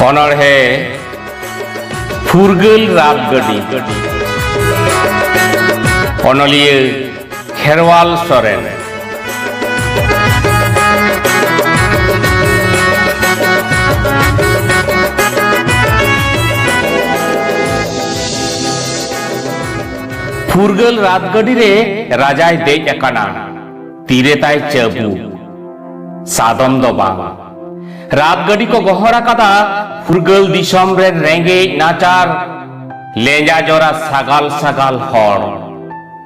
ᱚᱱᱚᱬᱦᱮ ᱯᱷᱩᱨᱜᱟᱹᱞ ᱨᱟᱛ ᱜᱟᱹᱰᱤ ᱚᱱᱚᱞᱤᱭᱟᱹ ᱠᱷᱮᱨᱣᱟᱞ ᱥᱚᱨᱮᱱ ᱯᱷᱩᱨᱜᱟᱹᱞ ᱨᱟᱛ ᱜᱟᱹᱰᱤ ᱨᱮ ᱨᱟᱡᱟᱭ ᱫᱮᱡ ᱟᱠᱟᱱᱟ ᱛᱤᱨᱮ ᱛᱟᱭ ᱪᱟᱹᱵᱩ ᱥᱟᱫᱚᱢ ᱫᱚ ᱵᱟᱝ ᱨᱟᱛ ᱜᱟᱹᱰᱤ ᱠᱚ ᱜᱚᱦᱚᱲ ᱟᱠᱟᱫᱟ ᱯᱷᱩᱨᱜᱟᱹᱞ ᱫᱤᱥᱚᱢ ᱨᱮᱱ ᱨᱮᱸᱜᱮᱡ ᱱᱟᱪᱟᱨ ᱞᱮᱸᱡᱟ ᱡᱚᱨᱟ ᱥᱟᱜᱟᱞ ᱥᱟᱜᱟᱞ ᱦᱚᱲ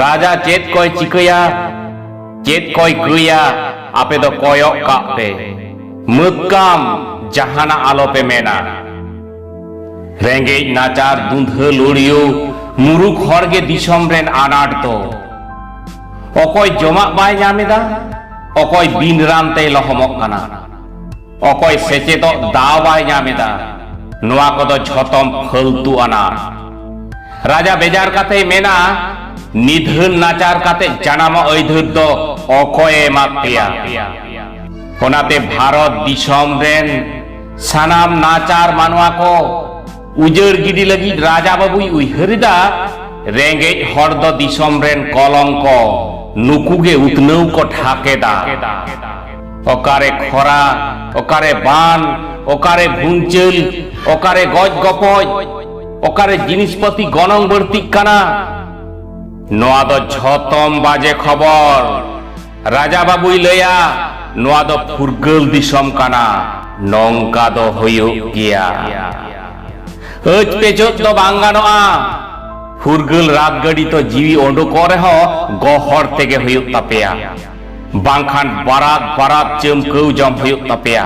ᱨᱟᱡᱟ ᱪᱮᱫ ᱠᱚᱭ ᱪᱤᱠᱟᱹᱭᱟ ᱪᱮᱫ ᱠᱚᱭ ᱠᱟᱹᱭᱟ ᱟᱯᱮ ᱫᱚ ᱠᱚᱭᱚᱜ ᱠᱟᱜ ᱯᱮ ᱢᱟᱹᱠᱟᱢ ᱡᱟᱦᱟᱱᱟᱜ ᱟᱞᱚᱯᱮ ᱢᱮᱱᱟ ᱨᱮᱸᱜᱮᱡ ᱱᱟᱪᱟᱨ ᱫᱩᱸᱫᱷᱟᱹ ᱞᱩᱲᱤᱭᱩ ᱢᱩᱨᱩᱠ ᱦᱚᱲ ᱜᱮ ᱫᱤᱥᱚᱢ ᱨᱮᱱ ᱟᱱᱟᱴ ᱫᱚ ᱚᱠᱚᱭ ᱡᱚᱢᱟᱜ ᱵᱟᱭ ᱧᱟᱢᱮᱫᱟ ᱚᱠᱚᱭ ᱵᱤᱱ ᱨᱟᱱ ᱛᱮᱭ ᱞᱚᱦᱚᱢᱚᱜ ᱠᱟᱱᱟ ᱚᱠᱚᱭ ᱥᱮᱪᱮᱫᱚᱜ ᱫᱟᱣ ᱵᱟᱭ ᱧᱟᱢ ᱮᱫᱟ ᱱᱚᱣᱟ ᱠᱚᱫᱚ ᱡᱷᱚᱛᱚᱢ ᱯᱷᱟᱹᱞᱛᱩ ᱟᱱᱟ ᱨᱟᱡᱟ ᱵᱮᱡᱟᱨ ᱠᱟᱛᱮ ᱢᱮᱱᱟ ᱱᱤᱫᱷᱟᱹᱱ ᱱᱟᱪᱟᱨ ᱠᱟᱛᱮ ᱡᱟᱱᱟᱢᱚᱜ ᱟᱹᱭᱫᱷᱟᱹᱨ ᱫᱚ ᱚᱠᱚᱭ ᱮᱢᱟᱫ ᱯᱮᱭᱟ ᱚᱱᱟᱛᱮ ᱵᱷᱟᱨᱚᱛ ᱫᱤᱥᱚᱢ ᱨᱮᱱ ᱥᱟᱱᱟᱢ ᱱᱟᱪᱟᱨ ᱢᱟᱱᱣᱟ ᱠᱚ ᱩᱡᱟᱹᱲ ᱜᱤᱰᱤ ᱞᱟᱹᱜᱤᱫ ᱨᱟᱡᱟ ᱵᱟᱹᱵᱩᱭ ᱩᱭᱦᱟᱹᱨᱮᱫᱟ ᱨᱮᱸᱜᱮᱡ ᱦᱚᱲ ᱫᱚ ᱫᱤᱥᱚᱢ ᱨᱮᱱ ᱠᱚᱞᱚᱝᱠᱚ ᱱᱩᱠᱩ ᱜᱮ ᱩᱛᱱᱟᱹᱣ ᱠᱚ ᱴᱷᱟᱠ ᱮᱫᱟ ᱚᱠᱟᱨᱮ ᱠᱷᱚᱨᱟ ᱚᱠᱟᱨᱮ ᱵᱟᱱ ᱚᱠᱟᱨᱮ ᱵᱷᱩᱝᱪᱟᱹᱞ ᱚᱠᱟᱨᱮ ᱜᱚᱡ ᱜᱚᱯᱚᱡ ᱚᱠᱟᱨᱮ ᱡᱤᱱᱤᱥ ᱯᱟᱹᱛᱤ ᱜᱚᱱᱚᱝ ᱵᱟᱹᱲᱛᱤᱜ ᱠᱟᱱᱟ ᱱᱚᱣᱟ ᱫᱚ ᱡᱷᱚᱛᱚᱢ ᱵᱟᱡᱮ ᱠᱷᱚᱵᱚᱨ ᱨᱟᱡᱟ ᱵᱟᱵᱩᱭ ᱞᱟᱹᱭᱟ ᱱᱚᱣᱟ ᱫᱚ ᱯᱷᱩᱨᱜᱟᱹᱞ ᱫᱤᱥᱚᱢ ᱠᱟᱱᱟ ᱱᱚᱝᱠᱟ ᱫᱚ ᱦᱩᱭᱩᱜ ᱜᱮᱭᱟ ᱟᱹᱪ ᱯᱮᱪᱚᱫ ᱫᱚ ᱵᱟᱝ ᱜᱟᱱᱚᱜᱼᱟ ᱯᱷᱩᱨᱜᱟᱹᱞ ᱨᱟᱛ ᱜᱟᱹᱰᱤ ᱛᱚ ᱡᱤᱣᱤ ᱚᱰᱚᱠᱚᱜ ᱨᱮᱦᱚᱸ ᱜᱚᱦᱚᱲ ᱛᱮᱜᱮ ᱦᱩᱭᱩᱜ ᱛᱟᱯᱮᱭᱟ ᱵᱟᱝᱠᱷᱟᱱ ᱵᱟᱨᱟᱫ ᱵᱟᱨᱟᱫ ᱪᱟᱹᱢᱠᱟᱹᱣ ᱡᱚᱢ ᱦᱩᱭᱩᱜ ᱛᱟᱯᱮᱭᱟ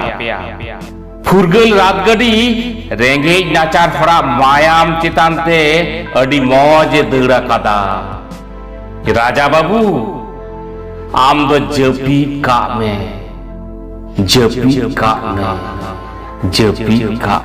ᱯᱷᱩᱨᱜᱟᱹᱞ ᱨᱟᱛ ᱜᱟᱹᱰᱤ ᱨᱮᱸᱜᱮᱡ ᱱᱟᱪᱟᱨ ᱦᱚᱲᱟᱜ ᱢᱟᱭᱟᱢ ᱪᱮᱛᱟᱱ ᱛᱮ ᱟᱹᱰᱤ ᱢᱚᱡᱽ ᱮ ᱫᱟᱹᱲ ᱟᱠᱟᱫᱟ ᱨᱟᱡᱟ ᱵᱟᱹᱵᱩ ᱟᱢ ᱫᱚ ᱡᱟᱹᱯᱤᱫ ᱠᱟᱜ ᱢᱮ ᱡᱟᱹᱯᱤᱫ ᱠᱟᱜ ᱢᱮ ᱡᱟᱹᱯᱤᱫ ᱠᱟᱜ